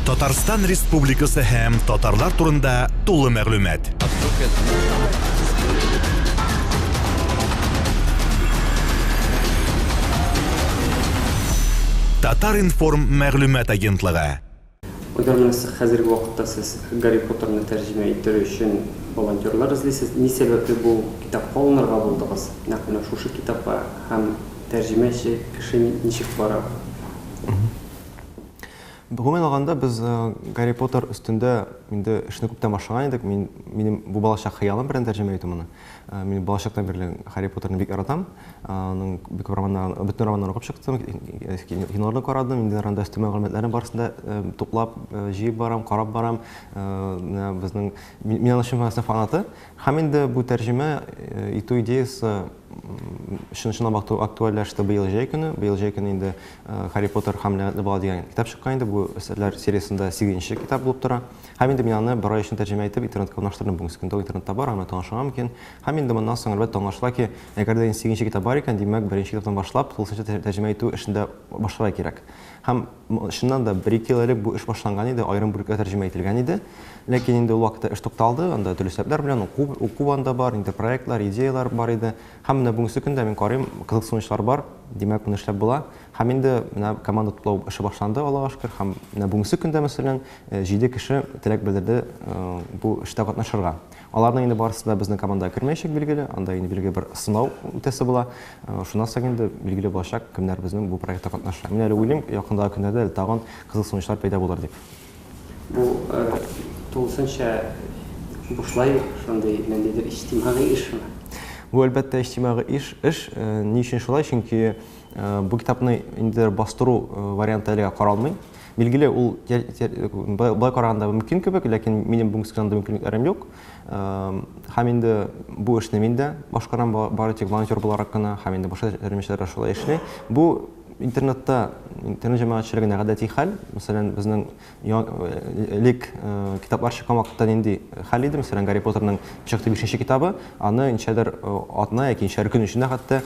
Татарстан Республикасы һәм татарлар турында тулы мәгълүмат. Татар-информ мәгълүмат агентлыгы. Уйламыйм, хәзерге вакытта сез Гарри Поттерны тәрҗемә иттерү өчен волонтерлар эзлисез. Ни сәбәпле бу китапка алынырга булдыгыз? Нәкъ менә шушы китапка һәм тәрҗемәче кеше ничек бара? Гомумән алганда, без Гарри Поттер өстендә инде эшне күптән башлаган идек. Мин, минем бу балачак хыялым белән тәрҗемә итү моны. Мин балачактан бирле Гарри Поттерны бик яратам. Аның бик күп романнарын, бөтен романнарын укып чыктым, киноларны карадым, инде анда өстәмә мәгълүматларны барысын да туплап, җыеп барам, карап барам. Менә безнең, мин аның чын мәгънәсендә фанаты. Һәм инде бу тәрҗемә итү идеясе Чын чынлап акту- актуальләште быел җәй көне. Быел җәй көне инде э, Харри Поттер һәм ләгънәтле бала дигән китап чыккан инде. Бу әсәрләр сериясендә сигезенче китап булып тора. Һәм инде мин аны бер ай эчендә тәрҗемә итеп интернетка урнаштырдым. Бүгенге көндә ул интернетта бар, аңа таныша мөмкин. Һәм инде моннан соң, әлбәттә, аңлашыла ки, әгәр дә инде сигезенче китап бар икән, димәк, беренче китаптан башлап, тулысынча тәр- тәрҗемә итү эшен дә башларга кирәк. Һәм Чыннан да, бер-ике ел элек бу эш башланган иде, аерым бүлеккә тәрҗемә ителгән иде. Ләкин инде ул вакытта эш тукталды, анда төрле сәбәпләр белән уку, уку анда бар, инде проектлар, идеялар бар иде. Һәм менә бүгенге көндә мин карыйм, кызыксынучылар бар, димәк, моны эшләп була. Һәм инде менә команда туплау эше башланды, Аллага шөкер. Һәм менә бүгенге көндә, мәсәлән, җиде кеше теләк белдерде бу эштә катнашырга. Аларның инде барысы да безнең командага кермәячәк, билгеле. Анда инде билгеле бер сынау үтәсе була. Э, шуннан соң инде билгеле булачак, кемнәр безнең бу проектта катнаша. Мин әле уйлыйм, якындагы көннәрдә әле тагын кызыл сынучылар пәйда булыр дип. Бу э, тулысынча бушлай шундый ниндидер иҗтимагый эш шуны. Бу әлбәттә иҗтимагый эш, эш. Э, ни өчен шулай? Чөнки бу китапны инде бастыру варианты әлегә каралмый. Билгеле, ул былай караганда мөмкин кебек, ләкин минем бүгенге көндә мөмкинлекләрем юк. Һәм инде бу эшне мин дә башкарам бары тик волонтер буларак кына, һәм инде башка җәмәгатьчеләр дә шулай эшли. Бу интернетта интернет җәмәгатьчелегенә гадәти хәл. Мәсәлән, безнең элек китаплар чыккан вакытта нинди хәл иде? Мәсәлән, Гарри Поттерның чыкты бишенче китабы, аны ничәдер атна яки ничәдер көн эчендә хәтта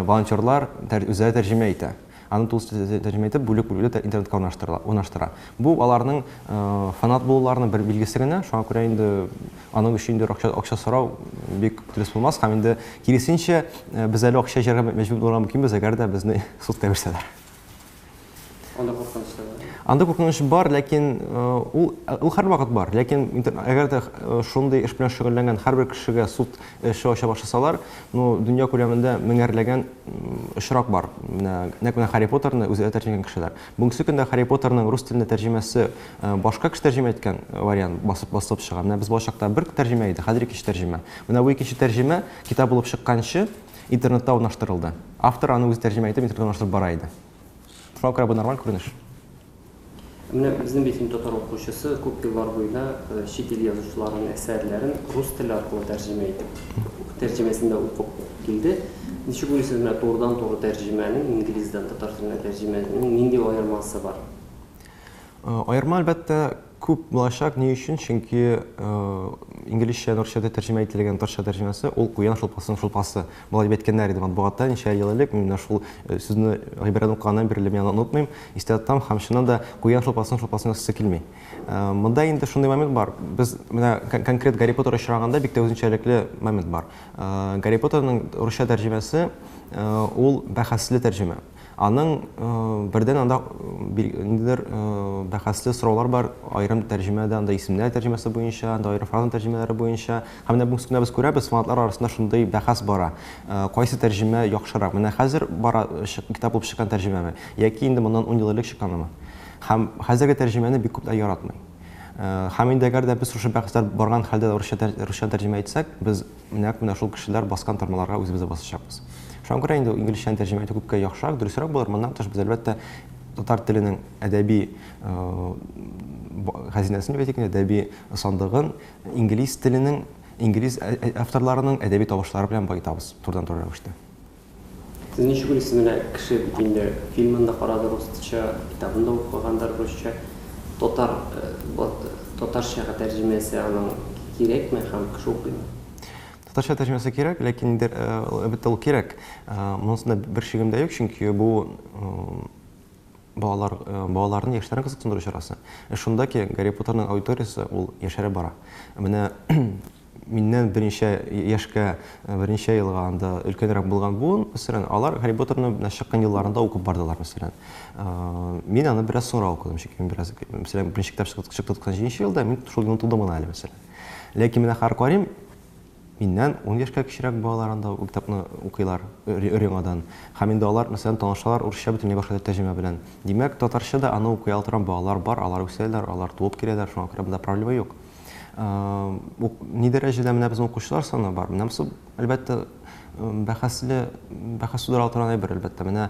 волонтерлар үзләре тәрҗемә итә. Аны тулыс тәрҗемә итеп, бүлек бүлүле тә интернетка урнаштырыла, урнаштыра. Бу аларның фанат булуларының бер билгесе генә, шуңа күрә инде аның өчен инде акча, акча сорау бик дөрес булмас, һәм инде киресенчә, без әле акча җыярга мәҗбүр булырга мөмкинбез, әгәр дә безне судка бирсәләр. Анда куркыныч та бар. Анда куркыныч бар, ләкин ул, ул һәрвакыт бар. Ләкин әгәр дә шундый эш белән шөгыльләнгән һәрбер кешегә суд Эше ача башласалар, ну, дөнья күләмендә меңәрләгән очрак бар. Менә нәкъ менә Харри Поттерны үзләре тәрҗемәгән кешеләр. Бүгенге көндә Харри Поттерның рус теленә тәрҗемәсе э, башка кеше тәрҗемә иткән вариант басып басылып чыга. Менә без балачакта бер тәрҗемә иде, хәзер икенче тәрҗемә. Менә бу икенче тәрҗемә китап булып чыкканчы интернетта урнаштырылды. Автор аны үзе тәрҗемә итеп интернетта урнаштырып бара иде. Шуңа күрә бу нормаль күренеш. Ә менә безнең бит татар укучысы күп еллар буена чит ил язучыларының әсәрләрен рус теле аркылы тәрҗемә итеп, тәрҗемәсен дә укып килде. Ничек уйлыйсыз, менә турыдан-туры тәрҗемәнең, инглиздән татар теленә тәрҗемәнең нинди аермасы бар? Аерма, әлбәттә, күп булачак. Ни өчен? Чөнки инглизчәдән русчада тәрҗемә ителгән татарча тәрҗемәсе, ул куян шулпасының шулпасы. Болай дип әйткәннәр иде матбугатта ничә ел элек, мин менә шул сүзне гыйбарәне укыганнан бирле мин аны онытмыйм, истә тотам һәм чыннан да куян шулпасын шулпасын ясыйсы килми. Монда инде шундый момент бар, без менә конкрет Гарри Поттер очрагында бик тә үзенчәлекле момент бар. Гарри Поттерның русча тәрҗемәсе ул бәхәсле тәрҗемә. Аның бердән анда ниндидер бәхәсле сораулар бар, аерым тәрҗемәдә, анда исемнәр тәрҗемәсе буенча, анда аерым фраза тәрҗемәләре буенча. Һәм менә бүгенге көндә без күрәбез, фанатлар арасында шундый бәхәс бара. Кайсы тәрҗемә яхшырак? Менә хәзер бара китап булып чыккан тәрҗемәме? Яки инде моннан ун ел элек чыкканымы? Һәм хәзерге тәрҗемәне бик күпләр яратмый. Һәм инде әгәр дә без шушы бәхәсләр барган хәлдә русча русча тәрҗемә итсәк, без Нәкъ менә шул кешеләр баскан тормаларга үзебез дә басачакбыз. Шуңа күрә инде инглизчәне тәрҗемә итү күпкә яхшырак, дөресрәк булыр. Моннан тыш, без, әлбәттә, татар теленең әдәби хәзинәсен дибәйтик инде, әдәби сандыгын инглиз теленең, инглиз авторларының әдәби тавышлары белән баетабыз турыдан-туры рәвештә. Сез ничек уйлыйсыз, менә кеше бит инде фильмын да карады русча, китабын да укыгандыр русча, татар, татарчага тәрҗемәсе аның кирәкме һәм кеше укыймы? Татарча тәрҗемәсе кирәк, ләкин инде, әлбәттә, ул кирәк. Монысында бер шигем дә юк, чөнки бу балалар, балаларны, яшьләрне кызыксындыру чарасы. Шунда ки, Гарри Поттерның аудиториясе ул яшәреп бара. Менә Миннән берничә яшькә, берничә елга анда өлкәнрәк булган буын, мәсәлән, алар Гарри Поттерны менә чыккан елларында укып бардылар, мәсәлән. Мин аны бераз соңрак укыдым, чөнки мин бераз, мәсәлән, беренче китап чыкты, чыкты 97 нче елда, мин шул елны тудым гына әле, мәсәлән. Ләкин менә Харкварим миннән ун яшькә кечерәк балалар анда ул китапны укыйлар өр-яңадан. Һәм инде алар, мәсәлән, танышалар урысча бөтенләй башка тәрҗемә белән. Димәк, татарча да аны укый ала торган балалар бар, алар үсәләр, алар туып киләләр, шуңа күрә монда проблема юк. Ни дәрәҗәдә менә безнең укучылар саны бар? Менә бу, әлбәттә, бәхәсле, бәхәс тудыра торган әйбер, әлбәттә. Менә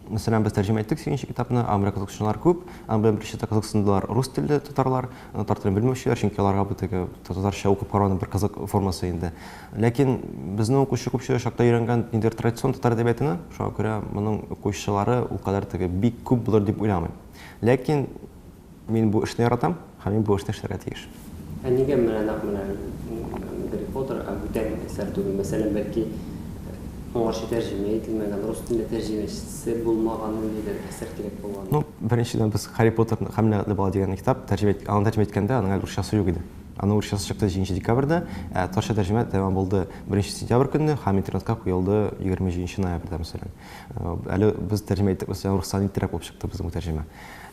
Мәсәлән, без тәрҗемә иттек сигезенче китапны, аны белән кызыксынучылар күп, аны белән беренче кызыксындылар рус телле татарлар, татар телен белмәүчеләр, чөнки аларга бу теге татарча укып карауның бер кызык формасы инде. Ләкин безнең укучы күпчелеге чакта өйрәнгән инде традицион татар әдәбиятына, шуңа күрә моның укучылары ул кадәр теге бик күп булыр дип уйламыйм. Ләкин Мин бу эшне яратам һәм мин бу эшне эшләргә тиеш. Ә нигә менә нәкъ менә Гарри Поттер, ә бүтән әсәр түгел? Мәсәлән, бәлки, моңарчы тәрҗемә ителмәгән, рус телендә тәрҗемәчесе булмаган ниндидер әсәр кирәк булган? Ну, беренчедән, без Гарри Поттерны һәм Ләгънәтле бала дигән китап тәрҗемә ит, аны тәрҗемә иткәндә аның әле урысчасы юк иде. Аның урысчасы чыкты җиденче декабрьдә, ә татарча тәрҗемә тәмам булды беренче сентябрь көнне һәм интернетка куелды егерме җиденче ноябрьдә, мәсәлән. Әле без тәрҗемә иттек, мәсәлән, руссан иттерәк булып чыкты безнең бу тәрҗемә.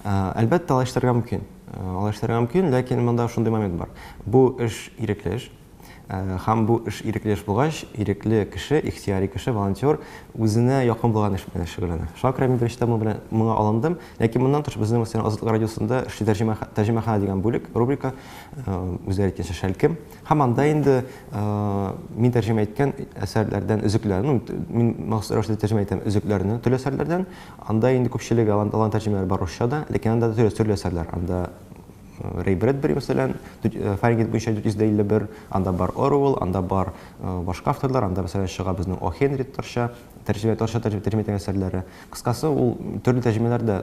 Әлбәттә, алай эшләргә мөмкин. Алай эшләргә мөмкин, ләкин монда шундый момент бар. Бу эш ирекле эш. Һәм бу эш ирекле эш булгач, ирекле кеше, ихтияри кеше, волонтер үзенә якын булган эш белән шөгыльләнә. Шуңа күрә мин беренчедән моның белән моңа алындым. Ләкин моннан тыш безнең мәсәлән Азатлык радиосында эшли тәрҗемә тәрҗемәханә дигән бүлек, рубрика, үзләре әйткәнчә шәлкем. Һәм анда инде э, мин тәрҗемә иткән әсәрләрдән өзекләрне, мин махсус рәвештә тәрҗемә итәм өзекләрне төрле әсәрләрдән. Анда инде күпчелеге алан, алан тәрҗемәләр бар русча да, ләкин анда төрле, төрле әсәрләр. Анда э, Рэй Брэдбери, мәсәлән, э, Фаренгейт буенча 451, анда бар Оруэлл, анда бар башка авторлар, анда, мәсәлән, чыга безнең О. Хенри татарча. тәрҗемә, татарча тәрҗемә, тәрҗемә ителгән әсәрләре. Кыскасы, ул төрле тәрҗемәләр дә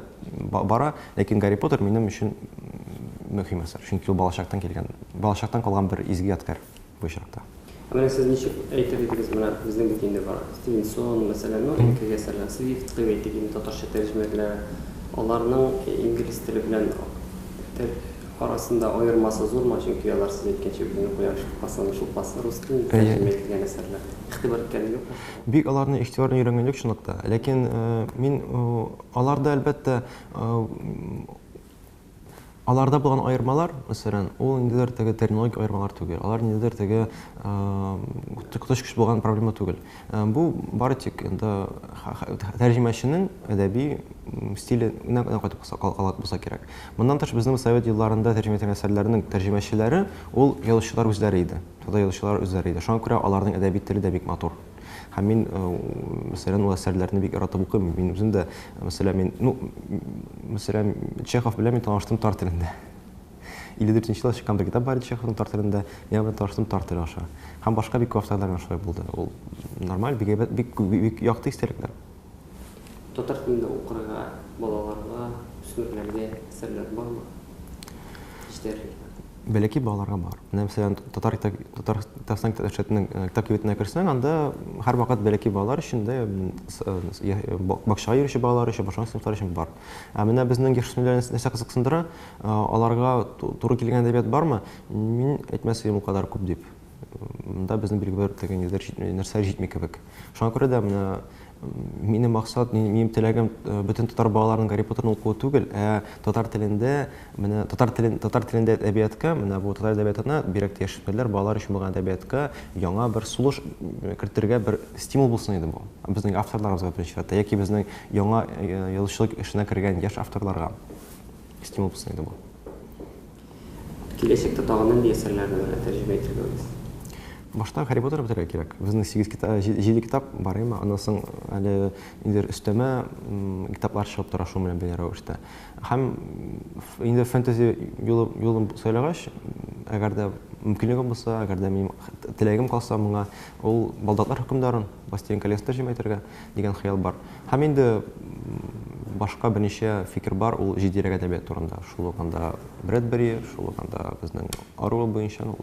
бара, ләкин Гарри Поттер минем өчен мөһим әсәр, чөнки ул балачактан килгән, балачактан калган бер изге ядкәр бу очракта. Ә менә сез ничек әйтер идегез, менә безнең бит инде бар Стивенсон, мәсәлән, ну, элеккеге әсәрләр, Свифт дип әйтик инде, татарча тәрҗемәләр, аларның инглиз теле белән арасында аермасы зурмы, чөнки алар, сез әйткәнчә, бүгенге кояш шулпасы, шулпасы рус телендә тәрҗемә ителгән әсәрләр, игътибар иткәнең юкмы? Бик аларны игътибарлы өйрәнгәнлек чынлыкта. Ләкин мин аларда, әлбәттә, аларда булган аермалар, мәсәлән, ул ниндидер теге терминологик аермалар түгел, алар ниндидер теге коточкыч э, булган проблема түгел. Э, бу бары тик инде тәрҗемәченең әдәби стиле генә кайтып калган булса кирәк. Моннан тыш безнең совет елларында тәрҗемә ителгән әсәрләрнең тәрҗемәчеләре ул язучылар үзләре иде. да язучылар үзләре иде. Шуңа күрә аларның әдәби теле дә бик матур. Һәм мин, э, мәсәлән, ул әсәрләрне бик яратып укыйм. Мин үзем дә, мәсәлән, мин, ну, мәсәлән, Чехов белән мин таныштым тар телендә. 54 елда чыккан бер китап бар иде Чеховның тар телендә. Мин аның белән таныштым тар теле аша. Һәм башка бик күп авторлар белән шулай булды. Ул нормаль, бик әйбәт, бик, бик якты истәлекләр. Татар телендә укырга балаларга, үсмерләргә әсәрләр бармы? Җитәрлек мени? Бәләкәй балаларга бар. Менә мәсәлән, татар татар татарстан китапчатының э, китап кибетенә керсәң, анда һәрвакыт бәләкәй балалар өчен дә э, бакчага йөрүче балалар өчен, башка сыйныфлар өчен бар. Ә менә безнең яшүсмерләр нәрсә кызыксындыра, э, аларга туры килгән әдәбият бармы? Мин әйтмәс идем ул кадәр күп дип. Монда безнең билгеләр үтәгән юллар җитми, нәрсә җитми кебек. Шуңа күрә дә менә минем максат, минем теләгем э, бөтен татар балаларының Гарри Поттерны укуы түгел, ә татар телендә, менә татар телен, татар телендә әдәбиятка, менә бу татар әдәбиятына, бирәк тә яшүсмерләр, балалар өчен булган әдәбиятка яңа бер сулыш э, кертергә бер стимул булсын иде бу. Безнең авторларыбызга беренче чиратта, яки безнең яңа э, язучылык эшенә кергән яшь авторларга стимул булсын иде бу. Киләчәктә тагын нинди әсәрләрне генә тәрҗемә итергәбез? Башта Гарри Поттерны бетерергә кирәк. Безнең сигез китап, җиде китап бар, әйеме? Аннан соң әле нидер өстәмә китаплар чыгып тора шуның белән бәйле рәвештә. Һәм инде фэнтези юлын сайлагач, әгәр дә мөмкинлегем булса, әгәр дә минем теләгем калса моңа, ул Балдаклар хөкемдарын, Властелин колесны тәрҗемә итәргә. дигән хыял бар. Һәм инде башка берничә фикер бар, ул җитдирәк әдәбият турында. Шул ук анда Брэдбери, шул ук анда безнең Оруэлл буенча, ну,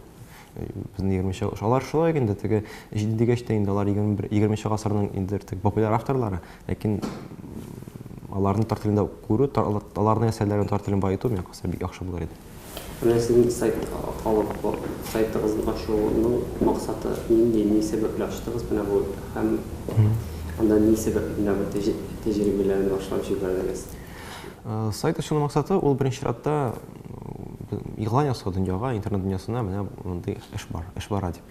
безнең 20-нче гасыр. Алар шулай ук инде теге җиде дигәч тә инде алар 21 20-нче гасырның инде теге популяр авторлары, ләкин аларны татар телендә күрү, аларның әсәрләрен татар телен баету, миңа калса, бик яхшы булыр иде. Менә сезнең сайт алып сайтыгызын ачуның максаты нинди, ни сәбәпле ачтыгыз менә бу һәм анда ни сәбәпле менә бу тәҗрибәләрне башлап җибәрдегез? Сайт ачуның максаты ул беренче чиратта игълан ясау дөньяга, интернет дөньясына менә мондый эш бар, эш бара дип.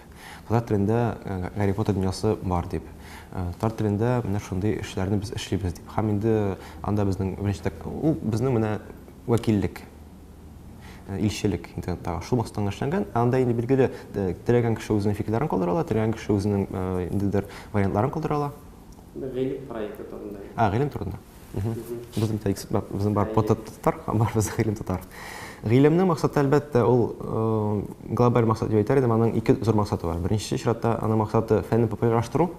Татар телендә Гарри Поттер дөньясы бар дип. Татар телендә менә шундый эшләрне без эшлибез дип. Һәм инде анда безнең беренче ул безнең менә Вәкиллек, илчелек интернеттагы шул максаттан эшләнгән. Ә анда инде билгеле, теләгән кеше үзенең фикерләрен калдыра ала, теләгән кеше үзенең ниндидер вариантларын калдыра ала. Гыйлем проекты турында. А, гыйлем турында. Без бит безнең бар татар, бар без гыйлем татар. Гыйлемнең максаты, әлбәттә, ул глобаль максат дип әйтер идем, аның ике зур максаты бар. Беренче чиратта аның максаты фәнне популярлаштыру,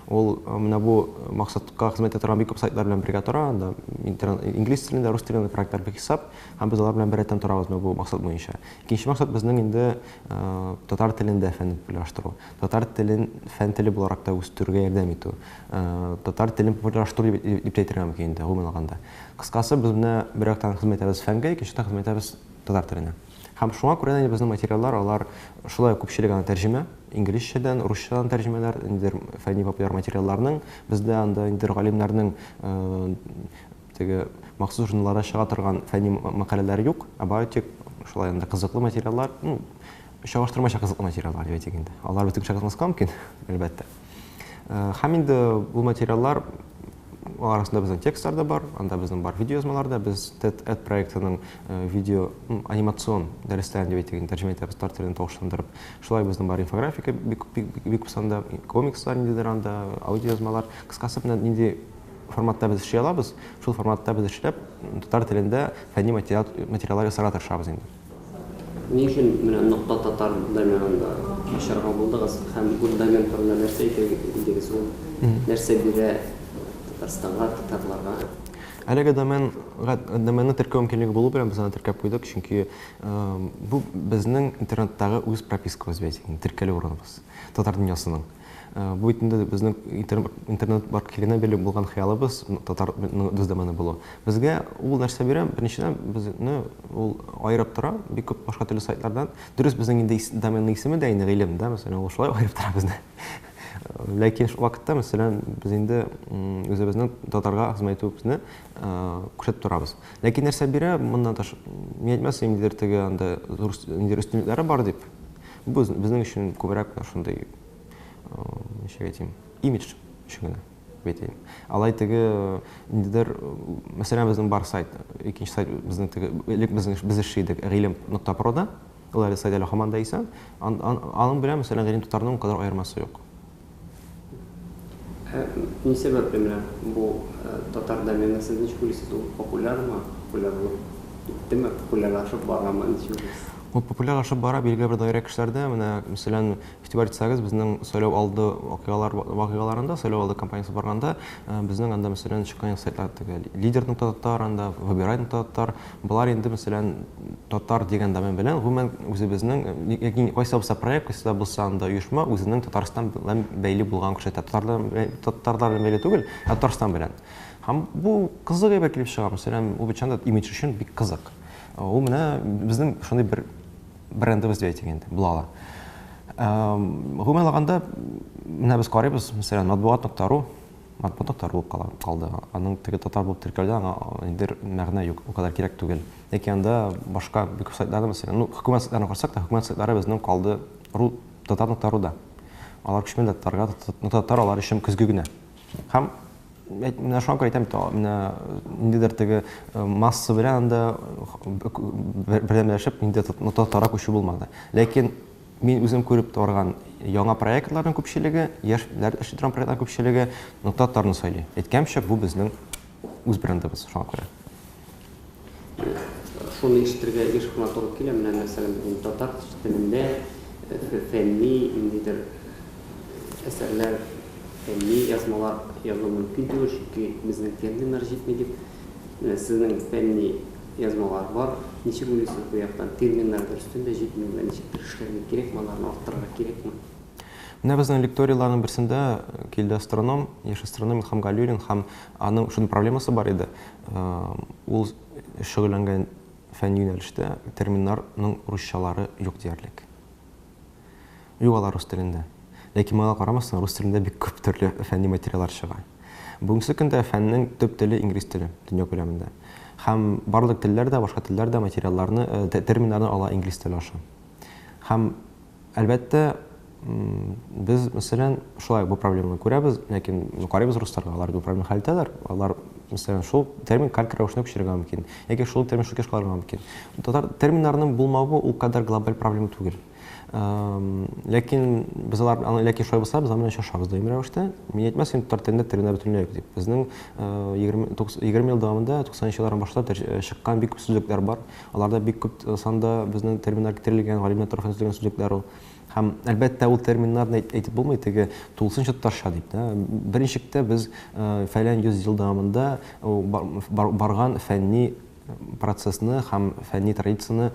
Ул менә бу максатка хезмәт итә торган бик күп сайтлар белән бергә тора, анда инглиз телендә, рус телендә проектлар бик хисап, һәм без алар белән беррәттән торабыз менә бу максат буенча. Икенче максат безнең инде татар телендә фәнне популярлаштыру, татар телен фән теле буларак та үстерүгә ярдәм итү, татар телен популярлаштыру дип тә әйтергә мөмкин инде, гомумән алганда. Кыскасы, без менә бер яктан хезмәт итәбез фәнгә, икенче яктан хезмәт итәбез татар теленә. Һәм шуңа күрә дә инде безнең материаллар, алар шулай ук күпчелек аны тәрҗемә, инглизчәдән, русчадан тәрҗемәләр, ниндидер фәнни-популяр материалларның, бездә анда ниндидер галимнәрнең теге махсус журналларда чыга торган фәнни мәкаләләр юк, ә бары тик шулай анда кызыклы материаллар, ну, чагыштырмача кызыклы материаллар дип әйтик инде. Алар бөтен кешегә кызыкмаска мөмкин, әлбәттә. Һәм инде бу материаллар Алар арасында безнең текстлар да бар, анда безнең бар видеоязмалар да. Без TED Ed проектының э, видео анимацион дәресләрен дип әйтик, тәрҗемә итәбез татар телен тавышландырып. Шулай безнең бар инфографика бик бик санда, комикслар ниндидер анда, аудиоязмалар. Кыскасы менә нинди форматта без эшли алабыз, шул форматта без эшләп татар телендә фәнни материал материаллар ясарга тырышабыз инде. Ни өчен менә Нокта Татар доменында ачарга булдыгыз һәм бу домен турында нәрсә әйтер идегез? Ул нәрсә бирә Татарстанга, татарларга? Әлеге домен доменны теркәү мөмкинлеге булу белән без аны теркәп куйдык, чөнки бу безнең интернеттагы үз пропискабыз бит, теркәлү урыныбыз татар дөньясының. Бу бит инде безнең интернет баркиленә бирелеп булган хыялыбыз, татар без дә моны булу. Безгә ул нәрсә бирә, беренчедән, безне ул аерып тора бик күп башка төрле сайтлардан. Дөрес, безнең инде доменның исеме дә инде гыйлем, да, мәсәлән, ул шулай аерып тора безне. Ләкин шул вакытта, мәсәлән, без инде үзебезнең татарга хезмәт итүебезне күрсәтеп торабыз. Ләкин нәрсә бирә, моннан тыш, мин әйтмәс идем, ниндидер теге анда зур өстенлекләре бар дип. Бу безнең өчен күбрәк менә шундый, ничек әйтим, имидж өчен генә бит инде. Алай теге ниндидер, мәсәлән, безнең бар сайт, икенче сайт безнең теге элек безнең без эшли идек, гыйлем.прода. Ул әле сайт әле һаман да исән. Аның белән, мәсәлән, гыйлем татарның кадәр аермасы юк. Ә ни сәбәпле менә бу татар домены, сез ничек уйлыйсыз, ул популярмы, популярлык иттеме, популярлашып барамы, ничек уйлыйсыз? Ул популярлашып бара билгеле бер даирә кешеләрдә. Менә, мәсәлән, игътибар итсәгез, безнең сайлау алды вакыйгалар вакыйгаларында, сайлау алды кампаниясе барганда, безнең анда, мәсәлән, чыккан сайтлар теге Лидер нокта татар, анда Выбирай нокта татар, Болар инде, мәсәлән, татар дигән домен белән, гомумән, үзебезнең, яки кайсы да булса проект, кайсы да булса анда оешма үзенең Татарстан белән бәйле булганын күрсәтә. Татарлар белән бәйле түгел, ә Татарстан белән. Һәм бу кызык әйбер килеп чыга, мәсәлән, ул бичан да имидж өчен бик кызык. Ул менә безнең шундый бер брендыбыз дип әйтик инде, була ала. Гомумән алганда, менә без карыйбыз, мәсәлән, матбугат.ру, Матбугат актарылып кала, калды. Аның теге татар булып теркәлүдә аңа ниндидер мәгънә юк, у кадәр кирәк түгел. Яки анда башка бик күп сайтларны мәсәлән, ну, хөкүмәт сайтларын карасак та, хөкүмәт сайтлары безнең калды ру, татарны актаруда. Алар күчмә дә татарга, ну, татар алар өчен көзге генә. Һәм әйт, менә шуңа күрә әйтәм бит, менә ниндидер теге масса белән анда бердәмләшеп, ниндидер ну, татарга күчү булмады. Ләкин Мин үзем күреп торган яңа проектларның күпчелеге, яшь этләр эшли торган проектларның күпчелеге Ноктатларны сайлый. Әйткәнемчә, бу безнең үз брендыбыз, шуңа күрә. Шуны ишетергә еш кына туры килә, менә, мәсәлән, бүген татар телендә фәнни ниндидер әсәрләр, фәнни язмалар язу мөмкин түгел, чөнки безнең терминнар җитми, дип. Менә сезнең фәнни. Язмалар бар, ничек уйлыйсыз бу яктан? Терминнар дөрестән дә җитмиме? Ничектер эшләргә кирәкме аларны, арттырырга кирәкме? Менә безнең лекторийларның берсендә килде астроном, яшь астроном Илхам Галиуллин һәм аның шундый проблемасы бар иде. Ул шөгыльләнгән фән юнәлештә терминнарның русчалары юк диярлек. Юк, алар рус телендә. Ләкин моңа карамастан, рус телендә бик күп төрле фәнни материаллар чыга. Бүгенге көндә фәннең төп теле инглиз теле, дөнья күләмендә. Һәм барлык телләр дә, башка телләр дә материалларны, терминнарны ала инглиз теле аша. Һәм, әлбәттә, без, мәсәлән, шулай ук бу проблеманы күрәбез, ләкин карыйбыз русларга, алар бу проблеманы хәл итәләр. Алар, мәсәлән, шул термин калька рәвешенә күчерергә мөмкин. Әгәр шул термин шул кеш калырга мөмкин. Татар терминнарының булмавы ул кадәр глобаль проблема түгел. Ләкин без алар аны ләкин шулай булса, без аны чашабыз даими рәвештә. Мин әйтмәсен, татар телендә терминнар бөтенләй юк дип. Безнең 20 20 ел дәвамында 90 еллардан башлап чыккан бик күп сүзлекләр бар. Аларда бик күп санда безнең терминнар китерелгән, галимнәр тарафыннан төзелгән сүзлекләр ул. Һәм, әлбәттә, ул терминнарны әйт, әйтеп булмый, теге тулысынча татарча дип, да. Беренчектә без фәлән йөз ел дәвамында барган фәнни процессны һәм фәнни традицияне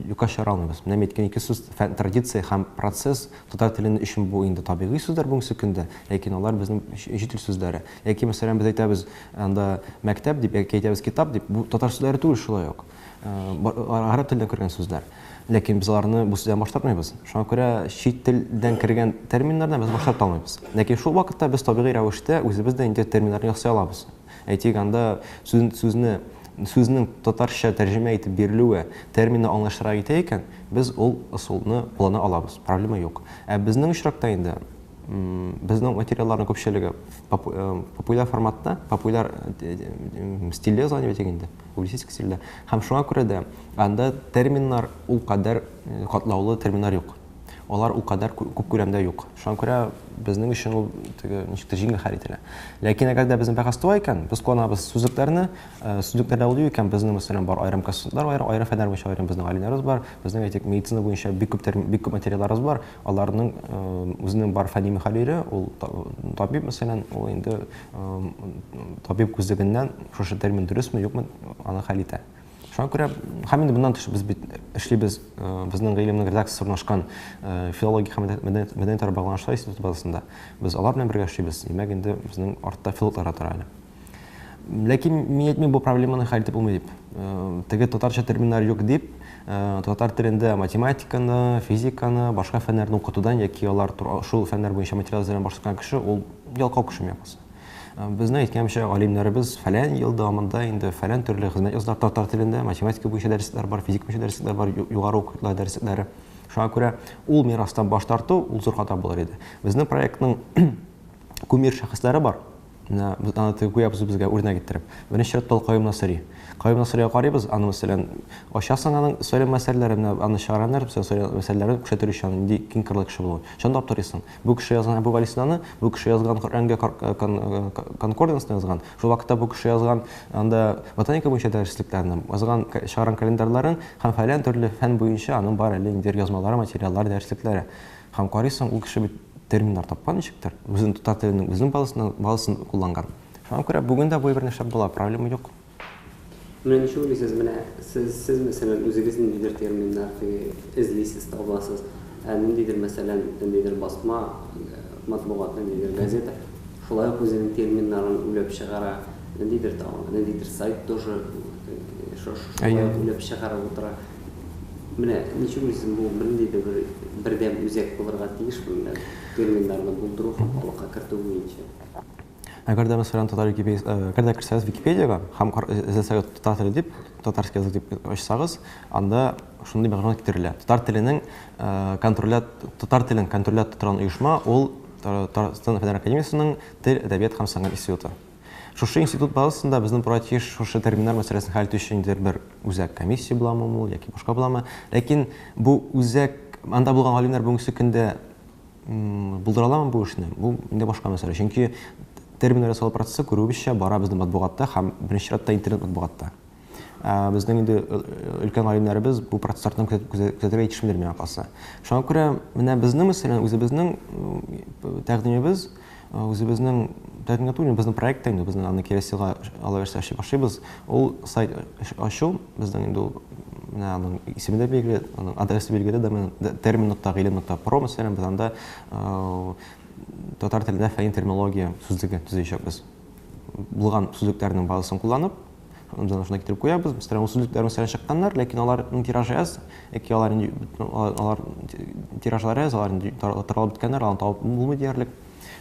юкка чыгара алмыйбыз. Менә әйткән ике сүз фән, традиция һәм процесс татар телен өчен бу инде табигый сүзләр бүгенге көндә, ләкин алар безнең чит ил сүзләре. Яки, мәсәлән, без әйтәбез анда мәктәп дип, яки әйтәбез китап дип, бу татар сүзләре түгел шулай ук. гарәп телендә күргән сүзләр. Ләкин без аларны бу сүздән баш тартмыйбыз. Шуңа күрә чит телдән кергән терминнардан без баш тарта алмыйбыз. Ләкин шул вакытта без табигый рәвештә үзебез дә инде терминнарны ясый алабыз. Әйтик, анда сүз, сүзне сүзнең татарча тәрҗемә итеп бирелүе терминны аңлаешлырак итә икән, без ул ысулны куллана алабыз, проблема юк. Ә безнең очракта инде безнең материалларның күпчелеге популяр форматта, популяр стильдә языла дип әйтик инде. публицистика стилендә. Һәм шуңа күрә дә анда терминнар ул кадәр катлаулы терминнар юк. Алар ул кадәр күп күләмдә юк. Шуңа күрә безнең өчен ул теге ничектер җиңел хәл ителә. Ләкин әгәр дә безнең бәхәс туа икән, без кулланабыз сүзлекләрне, э, сүзлекләрдә ул юк икән, безнең мәсәлән бар аерым консультантлар, аерым, аерым фәннәр буенча аерым безнең галимнәребез бар, безнең әйтик медицина буенча бик күп термин, бик күп материалларыбыз бар, аларның э, үзенең бар фәнни мөхәррире, ул табиб мәсәлән, ул инде табиб күзлегеннән шушы термин дөресме юкмы аны хәл итә шуңа күрә һәм инде моннан тыш без бит эшлибез безнең гыйлемнең редакциясе урнашкан филология һәм мәдәният араб багланышлар институты базасында без алар белән бергә эшлибез димәк инде безнең артта филологлар тора әле ләкин мин әйтмим бу проблеманы хәл итеп булмый дип теге татарча терминнар юк дип татар телендә математиканы физиканы башка фәннәрне укытудан яки алар шул фәннәр буенча материал әзерләүдән баш тарткан кеше ул Ялкау кешеме я булса. Безнең әйткәнчә, галимнәребез фәлән ел дәвамында инде фәлән төрле хезмәт яздылар татар телендә, математика буенча дәресләр бар, физика буенча дәресләр бар, югары укытла дәресләре. Шуңа күрә ул мирастан баш тарту ул зур хата булыр иде. Безнең проектның кумир шәхесләре бар. Менә без аны теге гүя без безгә үрнәк иттереп. Беренче чиратта ул Каюм Насыри. Каюм Насырига карыйбыз, аны мәсәлән, ачасың аның сөйләм мәсьәләләрен, аны чыгараннар, мәсьәләләрен күрсәтер өчен нинди киң кырлы кеше булуын. Чынлап торыйсың. Бу кеше язган Әбүгалисинаны, бу кеше язган Коръәнгә конкорденсны язган. Шул вакытта бу кеше язган анда ботаника буенча дәреслекләрне, язган чыгарган календарьларын һәм фәлән төрле фән буенча аның бар әле инде язмалары, материаллары, дәреслекләре. Һәм карыйсың, ул кеше бит терминнар тапкан ничектер, үзен татар теленең үзенең базасын кулланган. Шуңа күрә бүген дә бу әйберне эшләп була, проблема юк. Менә ничек уйлыйсыз, менә сез, сез, мәсәлән, үзегез ниндидер терминнар эзлисез, табасыз, ә ниндидер, мәсәлән, ниндидер басма матбугат, ниндидер газета шулай ук үзенең терминнарын уйлап чыгара, ниндидер там, ниндидер сайт тоже шулай ук уйлап чыгарып утыра. Менә ничек уйлыйсыз, бу бернинди дә бер бердәм үзәк булырга тиешме, менә терминнарны булдыру һәм халыкка кертү буенча? Әгәр дә мәсәлән татар википедиясе, э, әгәр дә керсәгез Википедияга һәм эзләсәгез татар теле дип, татарский язык дип ачсагыз, анда шундый мәгълүмат китерелә. Татар теленең э, контролят татар телен контролят тотран оешма ул Татарстан фәннәр академиясенең тел, әдәбият һәм сәнгать институты. Шушы институт базасында безнең проектиш шушы терминнар мәсьәләсен хәл итү өчен бер үзәк комиссия буламы ул яки башка буламы? Ләкин бу үзәк анда булган галимнәр бүгенге көндә Булдыра аламы бу эшне? Бу инде башка мәсьәлә. Чөнки терминнар ясалу процессы күрүебезчә бара безнең матбугатта һәм беренче чиратта интернет матбугатта. Ә, безнең инде э, э, өлкән галимнәребез бу процессларны күзәтергә җитешмиләр миңа калса. Шуңа күрә менә безнең мәсәлән үзебезнең тәкъдимебез Үзебезнең Тәтен Гатуллин безнең проект инде, безнең аны кирәсига алабәрсә эшли башлыйбыз. Ул сайт ачу, безнең инде ул менә аның исеме дә билгеле, аның адресы билгеле, домен termin.gilin.pro, мәсәлән, без анда татар телендә фәнни терминология сүзлеге төзәячәкбез. Булган сүзлекләрнең базасын кулланып, Җанышына китереп куябыз. Мәсәлән, ул сүзлекләр мәсәлән чыкканнар, ләкин аларның тиражы аз, яки алар инде алар тиражлары аз, алар инде таралып беткәннәр, аларны табып булмый диярлек.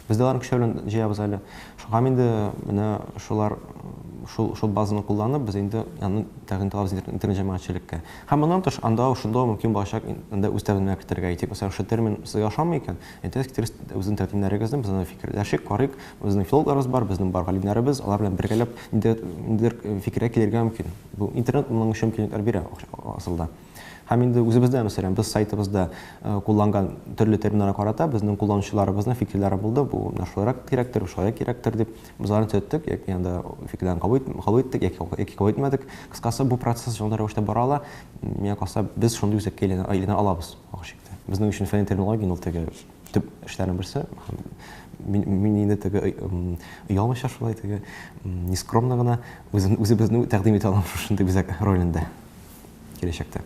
Без дә аларны көчләү белән җыябыз әле. Шуңа инде менә шулар шул шул базаны кулланып, без инде аны тәкъдим итәбез интернет җәмәгатьчелеккә. Һәм моннан тыш анда шунда мөмкин булачак инде үз тәкъдимнәр кертергә. Әйтик, мәсәлән, шул термин сезгә ошамый икән, Әйтегез, китерегез үзенең тәкъдимнәрегезне, без аны фикерләшик, карыйк. Безнең филологларыбыз бар, безнең бар галимнәребез, алар белән бергәләп нидер, нидер э, фикергә килергә мөмкин. Бу интернет моның өчен мөмкинлекләр бирә асылда. Һәм инде үзебездә, мәсәлән, без сайтыбызда э, кулланган төрле терминнарга карата безнең кулланучыларыбызның фикерләре булды. Бу менә шулайрак кирәктер, шулай кирәктер дип без аларны төзәттек, яки анда фикерләрен кабул ит- кабул иттек, яки кабул- яки кабул итмәдек. Кыскасы, бу процесс шундый рәвештә бара ала. Миңа калса, без шундый үзәккә әйләнә, әйләнә алабыз. Охшик. Безнең өчен фәнни терминологиянең ул теге төп эшләрнең берсе. Мин, мин инде теге оялмыйча шулай теге нескромно гына үзен үзебезне тәкъдим итә алам шушындый үзәк ролендә киләчәктә.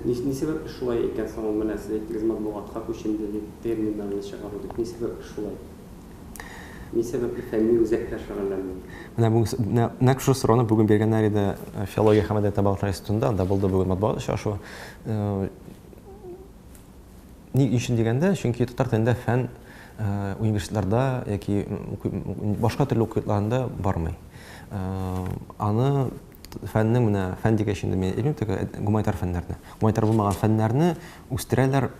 Ни сәбәпле шулай икән соң ул менә сез әйттегез матбугатка күченде дип терминнарны чыгару дип. Ни сәбәпле шулай? Ни сәбәпле фәнни үзәктә шөгыльләнмиләр? Менә бүген, менә нәкъ шушы сорауны бүген биргәннәр иде Филология һәм мәдәният табалдырыклары институтында, анда булды бүген матбугат очрашуы. Ни өчен дигәндә, чөнки татар телендә фән университетларда яки башка төрле уку йортларында бармый. Аны Фәннең менә, фән дигәч инде мин әйтмим, теге гуманитар фәннәрне. Гуманитар булмаган фәннәрне үстерәләр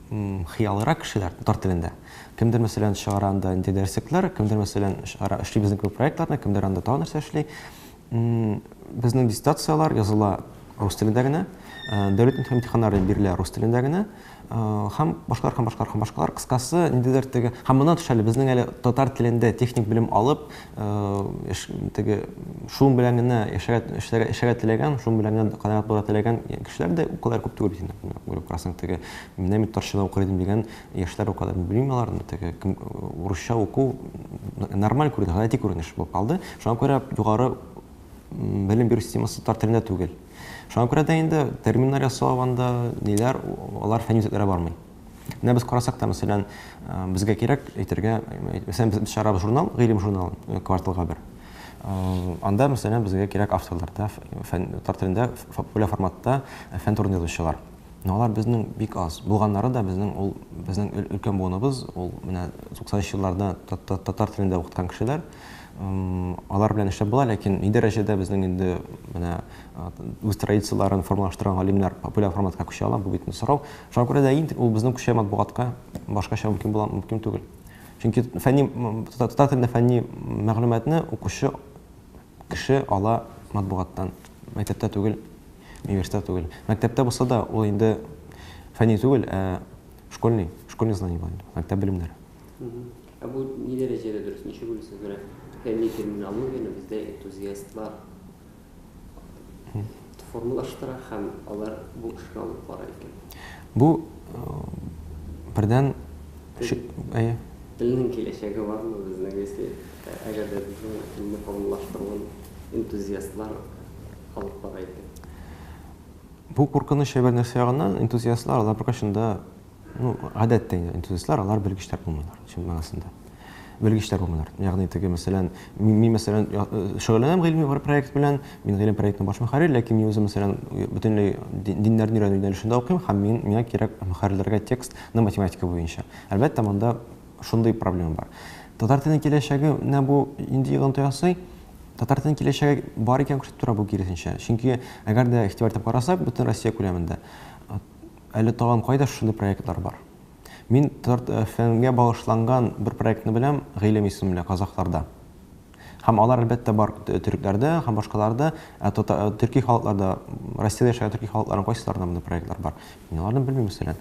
хыялырак кешеләр, татар телендә. Кемдер, мәсәлән, чыгара анда инде дәреслекләр, кемдер, мәсәлән, чыгара эшли безнең кебек проектларны, кемдер анда тагын нәрсә эшли. Безнең диссертацияләр языла рус телендә генә, дәүләт имтиханнары бирелә рус телендә генә. Һәм башкалар, һәм башкалар, һәм башкалар. Кыскасы, ниндидер теге, һәм моннан тыш әле безнең әле татар телендә техник белем алып, теге шуның белән генә яшәргә, эшләргә, эшләргә теләгән, шуның белән генә канәгать булырга теләгән кешеләр дә укулар күп түгел бит инде. Күреп карасаң, теге менә мин татарча укыр идем дигән яшьләр укы да белмим алар, теге кем урысча уку нормаль күренеш, гади күренеш булып калды. Шуңа күрә югары белем бирү системасы татар телендә түгел. Шуңа күрә дә инде терминнар ясау анда ниләр, алар фәнни үзәкләргә бармый. Менә без карасак та, мәсәлән, безгә кирәк әйтергә, мәсәлән, без чыгарабыз журнал, гыйлем журналы, э, кварталга бер. Э, анда, мәсәлән, безгә кирәк авторлар да, фән, татар телендә популяр форматта фән турында язучылар. Но алар безнең бик аз. Булганнары да безнең ул безнең өлкән буыныбыз, ул менә 90 елларда татар телендә укыткан кешеләр. Алар белән эшләп була, ләкин ни дәрәҗәдә безнең инде менә үз традицияләрен формалаштырган галимнәр популяр форматка күчә ала, бу бит сорау. Шуңа күрә дә инде ул безнең күчә матбугатка башкача мөмкин була, мөмкин түгел. Чөнки фәнни татар телендә фәнни мәгълүматны укучы кеше ала матбугаттан, мәктәптә түгел, университет түгел. Мәктәптә булса да ул инде фәнни түгел, ә школьный, школьный знание була, мәктәп белемнәре. Ә бу ни дәрәҗәдә дөрес, ничек уйлыйсыз, менә фәнни терминологияне бездә энтузиастлар формалаштыра һәм алар бу эшне алып бара икән. Бу бердән әйе. Телнең киләчәге бармы безнең, если әгәр дә безнең телне формалаштыруын энтузиастлар алып бара икән? Бу куркыныч һәр нәрсә ягыннан, энтузиастлар алар беркайчан да Ну, гадәттә инде энтузиастлар, алар белгечләр булмыйлар, чын мәгънәсендә. Белгечләр булмыйлар. Ягъни теге, мәсәлән, мин, мин мәсәлән, э, шөгыльләнәм гыйльми бер проект белән, мин гыйлем проектының баш мөхәррир, ләкин мин үзем, мәсәлән, бөтенләй дин- диннәрне өйрәнү юнәлешендә укыйм, һәм мин, миңа кирәк мөхәррирләргә текстны математика буенча. Әлбәттә, монда шундый проблема бар. Татар теленең киләчәгенә бу нинди йогынты ясый? Татар теленең киләчәге бар икән күрсәтеп тора бу, киресенчә. Чөнки, әгәр дә игътибар итеп карасак, бөтен Россия күләмендә, Әле тагын кайда шушындый проектлар бар? Мин ТРТ-ФМ-гә багышланган бер проектны беләм, Гыйлем исемле, казахларда. Һәм алар, әлбәттә, бар төрекләрдә һәм башкаларда, ә төрки халыкларда, Россиядә яшәгән төрки халыкларның кайсыларында мондый проектлар бар? Мин аларны белмим, мәсәлән.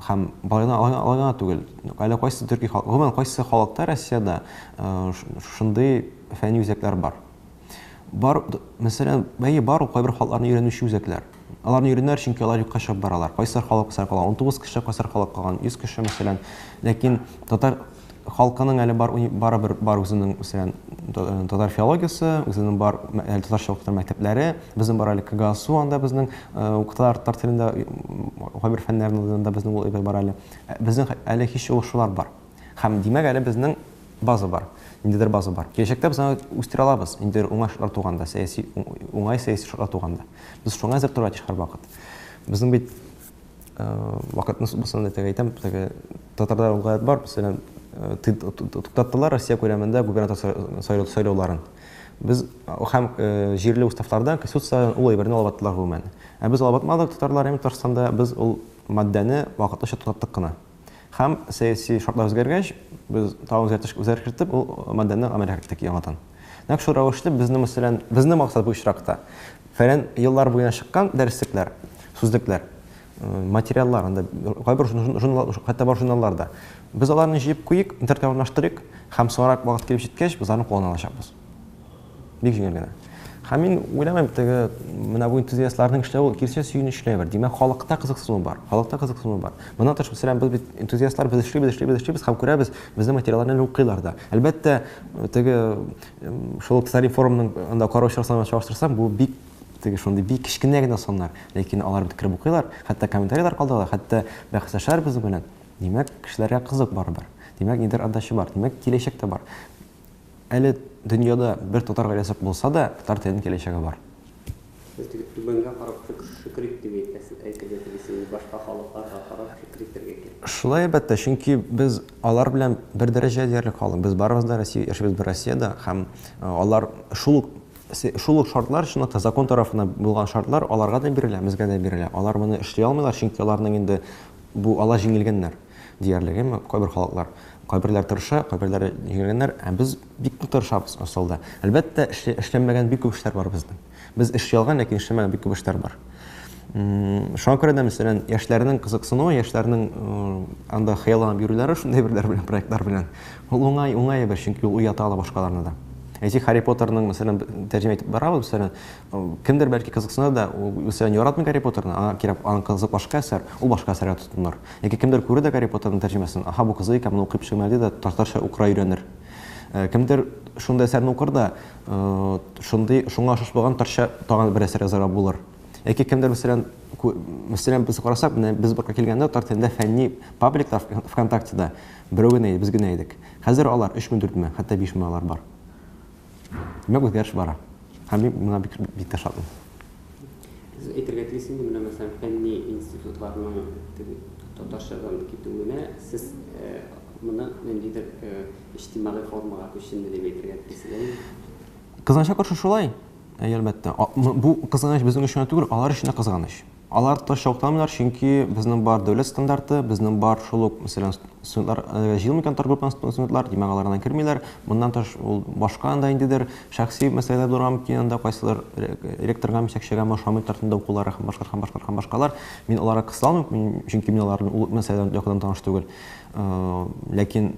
Һәм алай гына түгел, әле кайсы төрки халык, гомумән, кайсы халыкта Россиядә шушындый фәнни үзәкләр бар? Бар, мәсәлән, бәе бар ул кайбер халыкларны өйрәнүче үзәкләр. Аларны өйрәнәр, чөнки алар юкка чыгып баралар. Кайсар халык кайсар кала, 19 кеше кайсар халык калган, 100 кеше, мәсәлән. Ләкин татар халкының әле бар, бары бер бар үзенең, мәсәлән, э, татар филологиясе, үзенең бар әле татарча укытыр мәктәпләре, безнең бар әле КГАСУ, анда безнең э, укыталар татар телендә, кайбер фәннәрне анда безнең ул бар әле. Э, безнең әле һич шулар бар. Һәм димәк әле безнең База бар. Ниндидер база бар. Киләчәктә без аны үстерә алабыз. Ниндидер уңай шартлар туганда, сәяси уңай сәяси шартлар туганда. Без шуңа әзер торырга тиеш һәрвакыт. Безнең бит э, вакытны субсанды итеп әйтәм, теге татарда ул гаять бар, мәсәлән, э, ты- т- т- туктаттылар Россия күләмендә губернатор сайлау- сайлау- сайлауларын. Без э, һәм э, җирле уставлардан, конституциядән ул әйберне алып аттылар гомумән. Ә без алып атмадык татарлар һәм Татарстанда, без ул матдәне вакытлыча туктаттык кына. Һәм сәяси шартлар үзгәргәч, без тагын үзгәртеш үзгәреш кертеп, ул маддәне гамәлгә кертек яңадан. Нәкъ шул рәвешле безнең мәсәлән, безнең максат бу очракта, фәлән еллар буена чыккан дәреслекләр, сүзлекләр, материаллар, анда кайбер журнал, хәтта бар журналлар да. Без аларны җыеп куйыйк, интернетка урнаштырыйк һәм соңрак вакыт килеп җиткәч, без аларны куллана алачакбыз. Бик җиңел генә. Һәм мин уйламыйм, теге менә бу энтузиастларның эшләве ул кирсә сөенечле бер. Димәк, халыкта кызыксыну бар. Халыкта кызыксыну бар. Моннан тыш, мәсәлән, без бит энтузиастлар без эшлибез, эшлибез, эшлибез һәм күрәбез, безнең материалларны әле укыйлар да. Әлбәттә, теге шул Ксарин форумның анда караучылар санын чагыштырсам, бу бик теге шундый бик кечкенә генә саннар, ләкин алар бит кереп укыйлар, хәтта комментарийлар калдыралар, хәтта бәхәсләшәләр безнең белән. Димәк, кешеләргә кызык барыбер. Димәк, нидер отдача бар. Димәк, киләчәк тә бар. Әле дөньяда бер татар гаиләсе юк булса да, татар теленең киләчәге бар. Сез теге түбәнгә карап шөкрик дип әйтәсез, әйтергә телисез, башка халыкларга карап шөкер итәргә кирәк. Шулай, әлбәттә, чөнки без алар белән бер дәрәҗә диярлек халык. Без барыбыз да Россия, яшибез бер Россиядә һәм алар шул ук шул ук шартлар, чынлап та, закон тарафыннан булган шартлар аларга да бирелә, безгә дә бирелә. Алар моны эшли алмыйлар, чөнки аларның инде бу ала җиңелгәннәр. Диярлеге ме, кайбер халыклар. Кайберләр тырыша, кайберләре егелгәннәр, ә без бик нык тырышабыз асылда. Әлбәттә, эшле, эшләнмәгән бик күп эшләр бар безнең. Без эш ялган, ләкин эшләнмәгән бик күп эшләр бар. Шуңа күрә дә, мәсәлән, яшьләрнең кызыксынуы, яшьләрнең анда хыялланып йөрүләре шундый берләр белән, проектлар белән. Ул уңай, уңай әйбер, чөнки ул уята ала башкаларны да. Әйтик, Харри Поттерның, мәсәлән, тәрҗемә итеп барабыз, мәсәлән, Кемдер бәлки кызыксыныр да, ул мәсәлән яратмый Гарри Поттерны, аңа кирәк, аның кызыгы башка әсәр, ул башка әсәргә тотыныр. Яки кемдер күрер дә Гарри Поттерның тәрҗемәсен, аһа, бу кызык икән, моны укыйм шимай ди дә татарча укырга өйрәнер. Кемдер шундый әсәрне укыр да, шундый, шуңа ошаш булган татарча тагын бер әсәр язарга булыр. Яки кемдер мәсәлән, мәсәлән без карасак, менә без бакка килгәндә татар телендә фәнни пабликлар ВКонтактеда берәү генә иде, без генә идек. Хәзер алар 3000-4000, хәтта 5000 алар бар. Нык үзгәреш бара. Һәм мин моңа бик, бик тә шатмын. Сез әйтергә тиеш инде, менә мәсәлән, фәнни институтларның теге татарчадан китүенә сез моны ниндидер иҗтимагый формага күченде дип әйтергә телисез, әйеме? Кызганычка каршы шулай, әлбәттә. Бу кызганыч безнең өчен генә түгел, алар өчен дә кызганыч. Алар тыш ялтырамыйлар, чөнки безнең бар дәүләт стандарты, безнең бар шул ук, мәсәлән, студентлар әлегә җыелмаган торак группаның студентлар, димәк, алар анда кермиләр. Моннан тыш, ул башка анда ниндидер шәхси мәсьәләләр булырга мөмкин, анда кайсыдыр ректорга, җитәкчегәме ошамый торсын да укулары һәм башкалар һәм башкалар һәм башкалар. Мин аларга кысыла алмыйм, чөнки мин алар белән ул мәсьәлә белән якыннан таныш түгел. Ләкин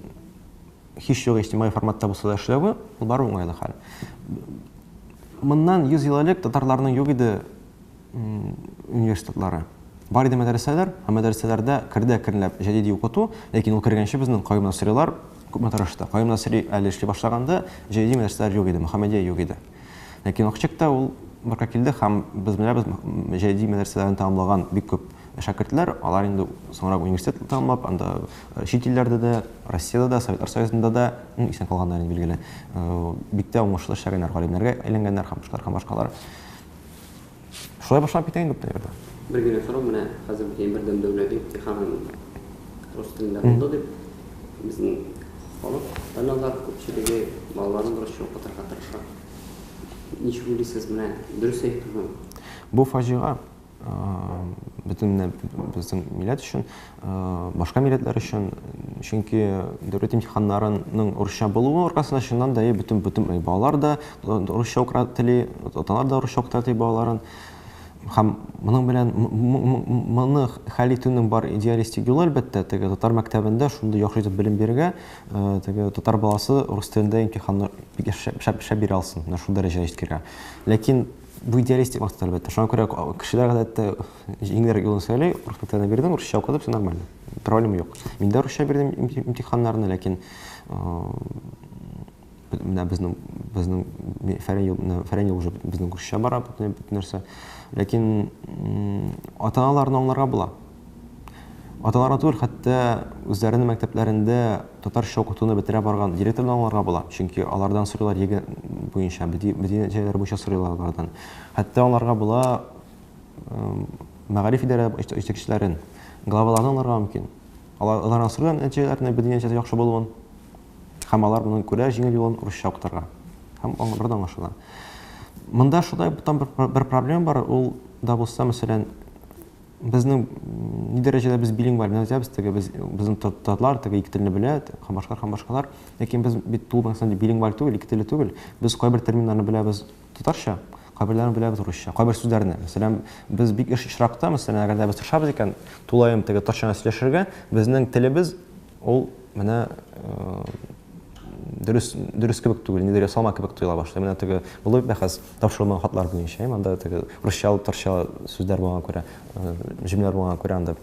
һичьюгы иҗтимагый форматта булса да эшләве, ул барыбер уңайлы хәл. Моннан 100 ел элек татарларның юк иде университетлары. Бар иде мәдрәсәләр, ә мәдрәсәләрдә кердә керләп җәдиди укыту, ләкин ул кергәнче безнең Каюм Насрилар күпме тырышты. Каюм Насри әле эшли башлаганда җәдиди мәдрәсәләр юк иде, Мөхәммәдия юк иде. Ләкин Акчык та ул бырка килде һәм без беләбез җәдиди мәдрәсәләрен тәмамлаган бик күп шәкертләр, алар инде соңрак университет тәмамлап, анда э, чит илләрдә дә, Россиядә дә, Советлар Союзында да исән калганнар инде билгеле. Э, бик тә уңышлы эшләгәннәр, галимнәргә әйләнгәннәр һәм башкалар һәм башкалар. Шулай башлап китә инде күптән инде. Бер генә сорау, менә хәзер бит Бердәм дәүләт имтиханын рус телендә булды дип, безнең халык, аналар күпчелеге балаларын русча укытырга тырыша. Ничек уйлыйсыз, менә дөрес әйтүме бу? Бу фаҗига бөтен безнең милләт өчен. башка милләтләр өчен, чөнки дәүләт имтиханнарының урысча булуы аркасында чыннан да бөтен бөтен балалар да урысча укыра тели, аталар да урысча укыта тели балаларын. Һәм моның белән моны хәл итүнең бар идеалистик юлы әлбәттә, теге татар мәктәбендә шундый яхшы итеп белем бирергә, теге татар баласы урыс телендә имтиханны шәп шәп бирә алсын, менә шул дәрәҗәгә җиткергә. Ләкин бу идеалистик максат әлбәттә. Шуңа күрә кешеләр гадәттә Җиңелрәк юлын сөйли, урыс телен бирдем, русча укыдым, все нормально. Проблема юк. Мин дә русча бирдем имтиханнарны, ләкин менә безнең безнең фәрән юл уже безнең русча бара бөтен нәрсә. Ләкин ата-аналарны аңларга була. Аталарга түгел, хәтта үзләренең мәктәпләрендә татарча укытуны бетерә барган директорны аңларга була. Чөнки алардан сорыйлар егет буенча, бөтен җәйләр буенча сорыйлар алардан. Хәтта аңларга була мәгариф идарә җитәкчеләрен, главаларны аңларга мөмкин. Алар аларның сүргән нәтиҗәләренә безнең нәтиҗәсе яхшы булуын һәм алар моны күрә җиңел юлын урысча укытырга. Һәм аңларда аңлашыла. Монда шулай там бер, бер проблема бар, ул да булса, мәсәлән, безнең ни дәрәҗәдә без билингваль гына язабыз, теге без безнең татарлар теге ике телне белә, һәм башкалар һәм башкалар, ләкин без бит тулы мәгънәсендә билингваль түгел, ике телле түгел. Без кайбер терминнарны беләбез, Татарча, кайберләрен беләбез урысча, кайбер сүзләрне. Мәсәлән, без бик еш очракта, мәсәлән, әгәр дә без тырышабыз икән, тулаем теге татарча сөйләшергә, безнең телебез ул менә дөрес, дөрес кебек түгел, нидер ясалма кебек тоела башлый. Менә теге булды бит бәхәс тапшырылмаган хатлар буенча, әйе, монда теге русча, татарча сүзләр булган күрә, җөмләләр булган күрә анда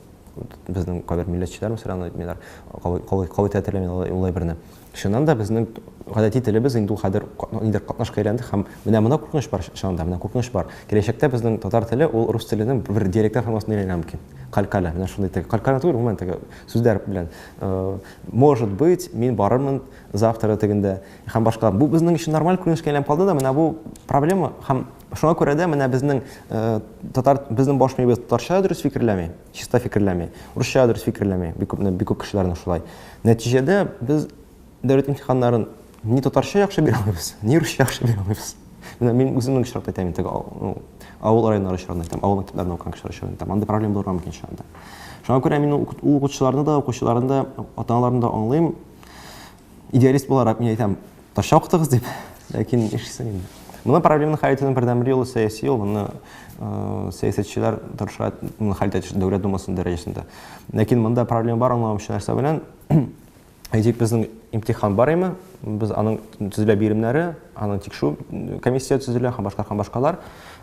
безнең кайбер милләтчеләр, мәсәлән, әйтмиләр, калай калай калай тәтерләмиләр улай берне. Чыннан да безнең гадәти телебез инде ул хәзер нидер катнашка әйләнде һәм менә моны куркыныч бар чыннан да, менә куркыныч бар. Киләчәктә безнең татар теле ул рус теленең бер диалектар формасына әйләнергә мөмкин. Калькаля, менә шундый теге калькаля түгел, гомумән теге сүзләр белән. Может быть, мин барырмын завтра дигәндә һәм башка. Бу безнең өчен нормаль күренешкә әйләнеп калды да, менә бу проблема һәм шуңа күрә дә менә безнең татар безнең баш миебез татарча дөрес фикерләми. чиста фикерләми. Урысча дөрес фикерләми. Бик күп бик күп кешеләрнең шулай. Нәтиҗәдә без дәүләт имтиханнарын ни татарча яхшы бирә алмыйбыз, ни русча яхшы бирә алмыйбыз. Менә мин үземнең очракта әйтәм инде, ну, авыл районнары очрагында әйтәм, авыл мәктәпләрендә укыган кешеләр очрагында әйтәм. Анда проблема булырга мөмкин шул анда. Шуңа күрә мин ул укытучыларны да, укучыларны да, ата-аналарны да аңлыйм. Идеалист буларак мин әйтәм, ташча укытыгыз дип, ләкин нишлисең инде. Моны проблеманы хәл итүнең бердәнбер юлы сәяси юл, моны э, сәясәтчеләр тырыша моны хәл итә дәүләт думасының дәрәҗәсендә. Ләкин монда проблема бар, аңламаучы нәрсә белән әйтик, безнең имтихан бар име, без аның төзелә биремнәре, аның тикшерү комиссия төзелә һәм башка һәм башкалар.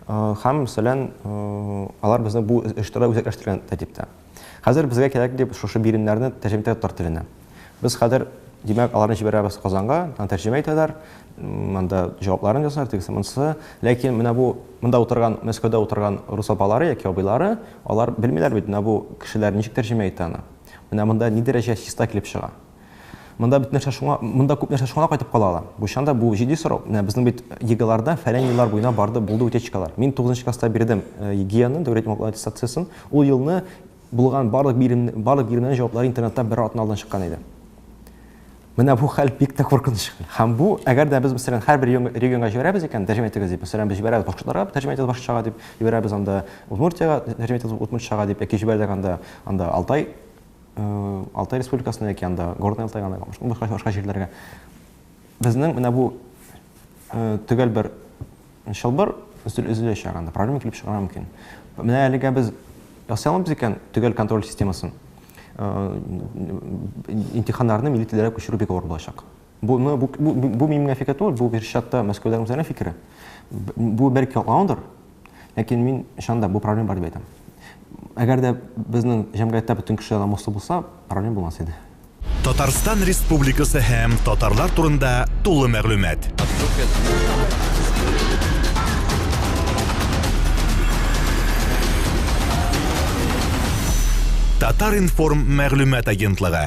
Э, һәм, мәсәлән, э, алар безнең бу эштерә үзәкләштергән тәртиптә. Хәзер безгә кирәк дип шушы биремнәрне тәрҗемә итә татар теленә. Без хәзер, димәк, аларны җибәрәбез Казанга, аны тәрҗемә итәләр, монда җавапларын язар, тегесе монысы. Ләкин менә бу монда утырган, Мәскәүдә утырган рус апалары яки абыйлары, алар белмиләр бит, менә бу кешеләр ничек тәрҗемә итә аны. Менә монда ни дәрәҗә чиста килеп чыга. Монда бит нәрсә шуңа, монда күп нәрсә шуңа кайтып кала ала. Бу чанда бу җитди сорау. Менә безнең бит ЕГЭларда фәлән еллар буена барды, булды утечкалар. Мин 9 нчы класста бирдем э, ЕГЭны, дәүләт имам аттестациясен. Ул елны булган барлык бирем, барлык биремнәрнең җаваплары интернетта бер атна алдан чыккан иде. Менә бу хәл бик тә куркыныч. Һәм бу, әгәр дә без мәсәлән һәрбер регионга җибәрәбез икән, тәрҗемә итегез дип, мәсәлән, без җибәрәбез башкортларга, тәрҗемә итегез башкорчага дип, җибәрәбез анда Удмуртиягә, тәрҗемә итегез удмуртчага дип, яки җибәрдек анда, анда Алтай Алтай республикасына яки анда Горный Алтайга анда башка башка башка җирләргә. Безнең менә бу э, төгәл бер чылбыр өзеләчәк анда, проблема килеп чыгарга мөмкин. Менә әлегә без ясый алмыйбыз икән төгәл контроль системасын. Э, имтиханнарны милли телләргә күчерү бик авыр булачак. Буны, бу, бу, бу, бу минем фикер түгел, бу бер чатта мәскәүдән үзләренә фикере. Бу бер калгандыр, ләкин мин шанда бу проблема бар дип әйтәм. Әгәр дә безнең җәмгыятьтә бөтен кешеләр намуслы булса, проблема булмас иде. Татарстан Республикасы һәм татарлар турында тулы мәгълүмат. Татар-информ мәгълүмат агентлыгы.